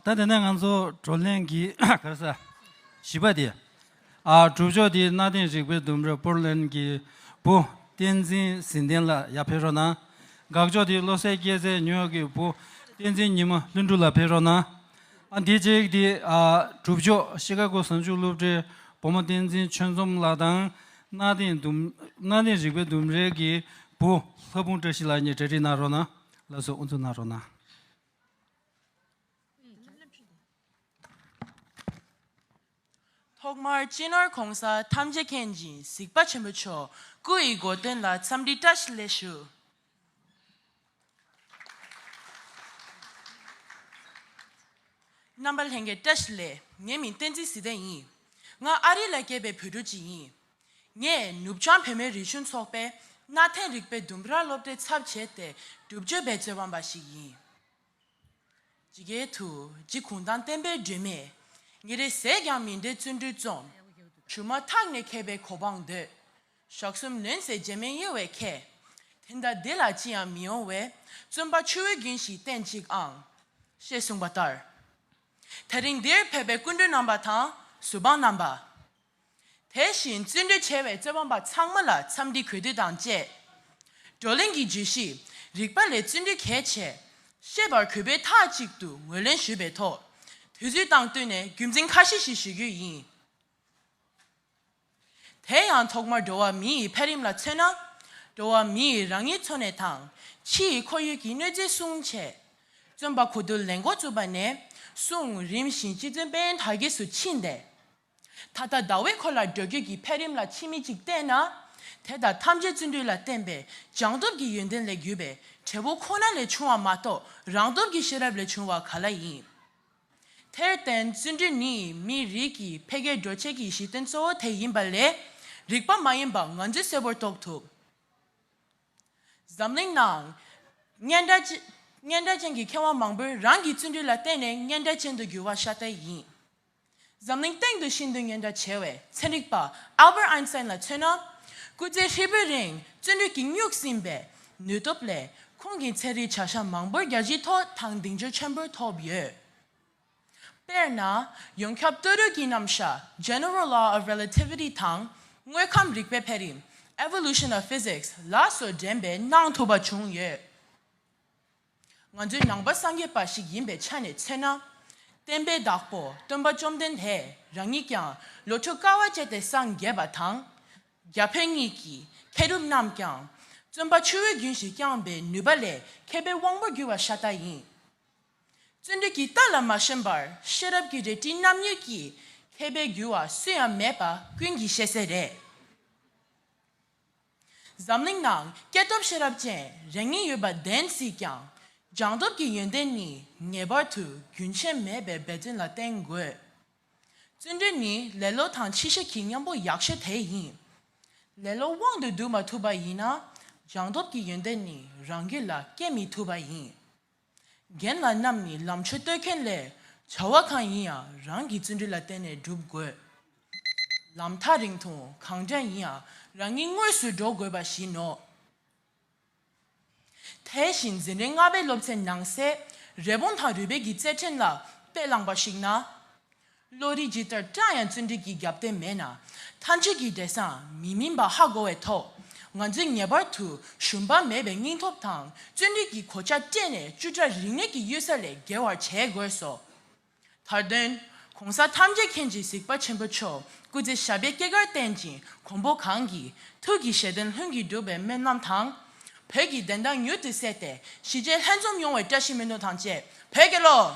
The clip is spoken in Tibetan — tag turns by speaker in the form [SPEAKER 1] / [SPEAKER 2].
[SPEAKER 1] ད་དེ་ནས་ང་ཚོ་བགྲོ་གླེང་གི་གར་ས་བཞི་པ་དེ། གྲུབ་མཆོག་དེའི་གནའ་དེང་རིག་པའི་ལྡུམ་ར་པོར་ལེན་གྱི་བུ་བསྟན་འཛིན་ཟིན་ལྡན་ལ་ཡར་ཕེབས་རོགས་གནང། དགག་ཕྱོགས་དེ་བློ་གསལ་སྐྱེས་ཚེ་ཉུ་ཡོག་གི་བུ་བསྟན་འཛིན་ཉི་མ་ལྷུན་གྲུབ་ལ་ཕེབས་རོགས་གནང། འདི་རྗེས་ཀྱི་གྲུབ་ཆོག་ཤི་ཀ་གོ་ཟངས་ཆུ་བློ་གྲོས་བུ་མོ་བསྟན་འཛིན་ཆོས་འཛོམས་ལགས་དང། གནའ་དེང་རིག་པའི་ལྡུམ་རའི་གི་བུ་
[SPEAKER 2] ལྷ་ཕུང་བཀྲ་ཤིས་ལགས་གཉིས་གྲ་སྒྲིག་གནང་རོགས་གནང། ལགས་སོ་དབུ་འཛུགས་གནང་རོགས་གནང། ཐོག་མར་སྤྱི་ནོར་གོང་ས་ཐམས་ཅད་མཁྱེན་བཞིན་གཟིགས་པ་ཆེན་པོ་མཆོག་སྐུ་ཡི་དགོས་དོན་ལ་འཚམས་འདྲི་བཀྲ་ཤིས་ལེགས་ཞུ། རྣམ་པ་ལྷན་རྒྱས་བཀྲ་ཤིས་ལེགས་ངའི་མིང་བསྟན་འཛིན་ཟི་ལྡན་ཡིན། ང་ཨ་རི་ལ་སྐྱེས་པའི་བོད་ཕྲུག་ཅིག་ཡིན། ངས་ནུབ་བྱང་བོད་མིའི་རིག་གཞུང་ཚོགས་པའི་གནའ་དེང་རིག་པའི་ལྡུམ་ར་སློབ་གྲྭའི་ཚབ་བྱས་ཏེ་སྒྲུབ་སྤྱོད་འབད་རྩོལ་བམ་པ་ཞིག་ཡིན། ཇི་སྐད་དུ། འཇིགས་གུང་ཐང་བསྟན་པའི་སྒྲོན་མེ། ཉིན་རེ་ཟད་ཀྱང་མི་འདོད་བརྩོན་འགྲུས་རྩོམ། བྱུང་མ་ཐག་ནས་མཁས་པའི་གོ་འཕང་འདོད། ཞག་གསུམ་ལོན་ཚེ་རྗེས་མའི་གཡོལ་བའི་མཁས། དེ་ལྟ་བདེ་ལ་ཅི་ཡང་མི་ཡོང་བས། བརྩོན་པ་ཆུ་བོའི་རྒྱུན་ཞིག་བསྟེན་ཅིག་ཨང། ཞེས་གསུངས་པ་ལྟར། ད་རིང་འདིར་ཕེབས་པའི་སྐུ་མགྲོན་རྣམ་པ་དང་གཟུ་དཔང་རྣམ་པ། དེ་བཞིན་བརྩོན་འགྲུས་ཆེ་བའི་རྩོད་པ་པ་ཚང་མ་ལ་འཚམས་འདྲི་གུས་འདུད་དང་བཅས། བགྲོ་གླེང་གི་བརྗོད་གཞི་རིག་པ་ལས་བརྩོན་འགྲུས་གལ་ཆེ། ཤེས་པར་གུས་པས་མཐའ་གཅིག་ཏུ་ངོས་ལེན་ཞུས་པའི་ཐོག་དུས་ཚོད་དང་བསྟུན་ནས་རྒྱུ་མཚན་ཁ་ཤས་ཤིག་ཞུ་རྒྱུ་ཡིན། དེ་ཡང་ཐོག་མར་འགྲོ་བ་མི་ཡི་འཕེལ་རིམ་ལ་མཚོན་ན། འགྲོ་བ་མི་ཡིས་རང་ཉིད་འཚོ་གནས་དང་ཕྱི་ཡི་ཁོར་ཡུལ་གྱི་གནོད་འཚེ་སྲུང་ཆེད། བརྩོན་པ་གོ་བསྡུར་ལས་འགོ་བཙུགས་པ་ནས་བཟུང་རིམ་བཞིན་སྤྱི་མཚོན་དཔལ་ཡོན་དར་རྒྱས་སུ་ཕྱིན་ཏེ། ད་ལྟ་ཟླ་བས་ཁོ་ལ་འགྲོ་སྐྱོད་ཀྱི་འཕེལ་རིམ་ལ་ཕྱི་མིག་ཅིག་བལྟས་ན། དེ་དང་ཐམས་ཅད་བརྩོན་འགྲུས་ལ་བརྟེན་པའི་བྱང་སྟོབས་ཀྱི་ཡོན་ཏན་ལས་བརྒྱུད་པའི་བྲེལ་བོ་ཁོ་ན་ལས་བྱུང་བ་མ་གཏོགས་རང་སྟོབས་ཀྱི་ཤེས་རབ་ལས་བྱུང་བ་ག་ལ་ཡིན། དེར་བརྟེན་བརྩོན་འགྲུས་ནི་མིའི་རིགས་ཀྱི་འཕེལ་རྒྱས་འགྲོ་བྱེད་ཀྱི་གཞི་རྟེན་གཙོ་བོ་དེ་ཡིན་པ་ལས་རིག་པ་མ་ཡིན་པ་ང་ཚོས་གསལ་བོར་རྟོགས་ཐུབ། འཛམ་གླིང་ནང། སྙན་གྲགས་སྙན་གྲགས་ཅན་གྱི་མཁས་དབང་མང་པོས་རང་གི་བརྩོན་འགྲུས་ལ་བརྟེན་ནས་སྙན་གྲགས་ཅན་དུ་འགྱུར་བ་ཤ་སྟག་ཡིན། འཛམ་གླིང་སྟེང་དུ་ཤིན་ཏུ་སྙན་གྲགས་ཆེ་བའི་ཚན་རིག་པ Albert Einstein ལ་མཚོན་ན། སྐུ་ཚེ་ཧྲིལ་པོའི་རིང་བརྩོན་འགྲུས་ཀྱིས་སྨྱུག་ཟིན་པའི་ནུས་སྟོབས་ལས་ཁོང་གིས་ཚན་རིག་བྱ་གཞག་མང་པོར་རྒྱལ་སྤྱིའི་ཐོག་དང་གདེང་འཇོག་ཆེན་པོ་ཐོབ་ཡོད། དཔེར་ན། ཡོངས་ཁྱབ་བལྟོས་རོལ་གྱི་རྣམ་གཞག General Law of Relativity དང་དངོས་ཁམས་རིག་པའི་འཕེལ་རིམ Evolution of Physics ལ་སོགས་འགྲན་པའི་གནང་ཐུབ་པ་བྱུང་ཡོད། ང་ཚོའི་ནང་པ་སངས་རྒྱས་པ་ཞིག་ཡིན་པའི་ཆ་ནས་མཚོན་ན། བསྟན་པའི་བདག་པོ་སྟོན་པ་བཅོམ་ལྡན་འདས་རང་ཉིད་ཀྱང་ལོ་དྲུག་དཀའ་བ་སྤྱད་དེ་སངས་རྒྱས་པ་དང། རྒྱ་བོད་གཉིས་ཀྱི་མཁས་གྲུབ་རྣམས་ཀྱང་བརྩོན་པ་ཆུ་བོའི་རྒྱུན་བཞིན་བསྐྱངས་པའི་ནུས་པ་ལས་མཁས་པའི་དབང་པོར་གྱུར་བ་ཤ་སྟག་ཡིན། བརྩོན་འགྲུས་ཀྱི་རྟགས་ལ་མ་ཞེན་པར་ཤེས་རབ་ཀྱི་རལ་གྲི་རྣམ་གཉིས་ཀྱིས་མཁས་པའི་རྒྱུ་བ་སུ་ཡང་མེད་པ་ཀུན་གྱིས་ཤེས་གསལ་རེད། འཛམ་གླིང་ནང་སྐྱེས་སྟོབས་ཤེས་རབ་ཅན་རེ་ངེས་ཡོད་པ་བདེན་སྲིད་ཀྱང། སྦྱངས་སྟོབས་ཀྱི་ཡོན་ཏན་ནི་ངེས་པར་དུ་རྒྱུན་ཆད་མེད་པའི་འབད་བརྩོན་ལ་བརྟེན་དགོས། བརྩོན་འགྲུས་ནི་ལེ་ལོ་དང་ཕྱི་ཤ་ཁྱི་མཉམ་པོ་ཡག་ཤོས་དེ་ཡིན། ལེ་ལོ་དབང་དུ་བསྡུ་མ་ཐུབ་པ་ཡིན་ན་སྦྱངས་སྟོབས་ཀྱི་ཡོན་ཏན་ནི་རང་རྒྱུད་ལ་སྐྱེ་མི་ཐུབ་པ་ཡིན། རྒན་ལགས་རྣམས་ནི་ལམ་ཆོས་བསྟོད་མཁན་ལས། བྱ་བ་གང་ཡིན་ཡང་རང་གི་བརྩོན་འགྲུས་ལ་བརྟེན་ནས་བསྒྲུབ་དགོས། ལམ་ཐག་རིང་ཐུང་གང་འདྲ་ཡིན་ཡང་རང་ཉིད་དངོས་སུ་འགྲོ་དགོས་པ་བཞིན་ནོ། དེ་བཞིན་འཛིན་རིམ་ལྔ་པའི་སློབ་ཚན་ནང་གསེས་རེ་བོང་ཐང་རུས་སྦལ་གྱི་རྩེར་ཕྲེང་ལ་དཔེ་བླངས་པ་ཞིག་ན། བློ་རིག་ཇི་ལྟར་བཀྲ་ཡང་བརྩོན་འགྲུས་ཀྱི་རྒྱབ་རྟེན་མེད་ན། མཐའ་མཇུག་གི་འབྲས་བཟང་མི་སྨིན་པ་ཧ་གོ་བས་ཐོག་ང་ཚོས་ངེས་པར་དུ་ཞུམ་པ་མེད་པའི་སྙིང་སྟོབས་དང་བརྩོན་འགྲུས་ཀྱི་གོ་ཆ་སྤྲས་ནས་བཅུ་ཕྲག་རིག་གནས་ཀྱི་གཡུལ་ས་ལས་བརྒལ་བར་བྱེད་དགོས་སོ། དར་དོན། གོང་ས་ཐམས་ཅད་མཁྱེན་གྱི་གཟིགས་པ་ཆེན་པོ་མཆོག་སྐུ་ཚེ་ཞབས་པད་སྐྱེ་སྐར་བརྟན་ཅིང་གོང་འཕོ་གང་གི་ཐུགས་ཀྱི་བཞེད་དོན་ལྷུན་གྱིས་འགྲུབ་པའི་སྨོན་ལམ་དང། བོད་ཀྱི་བདེན་མཐའ་མྱུར་དུ་གསལ་ཏེ་གཞིས་བྱེས་ལྷན་འཛོམས་ཡོང་བའི་བཀྲ་ཤིས་སྨོན་འདུན་དང་བཅས་བོད་རྒྱལ་ལོ།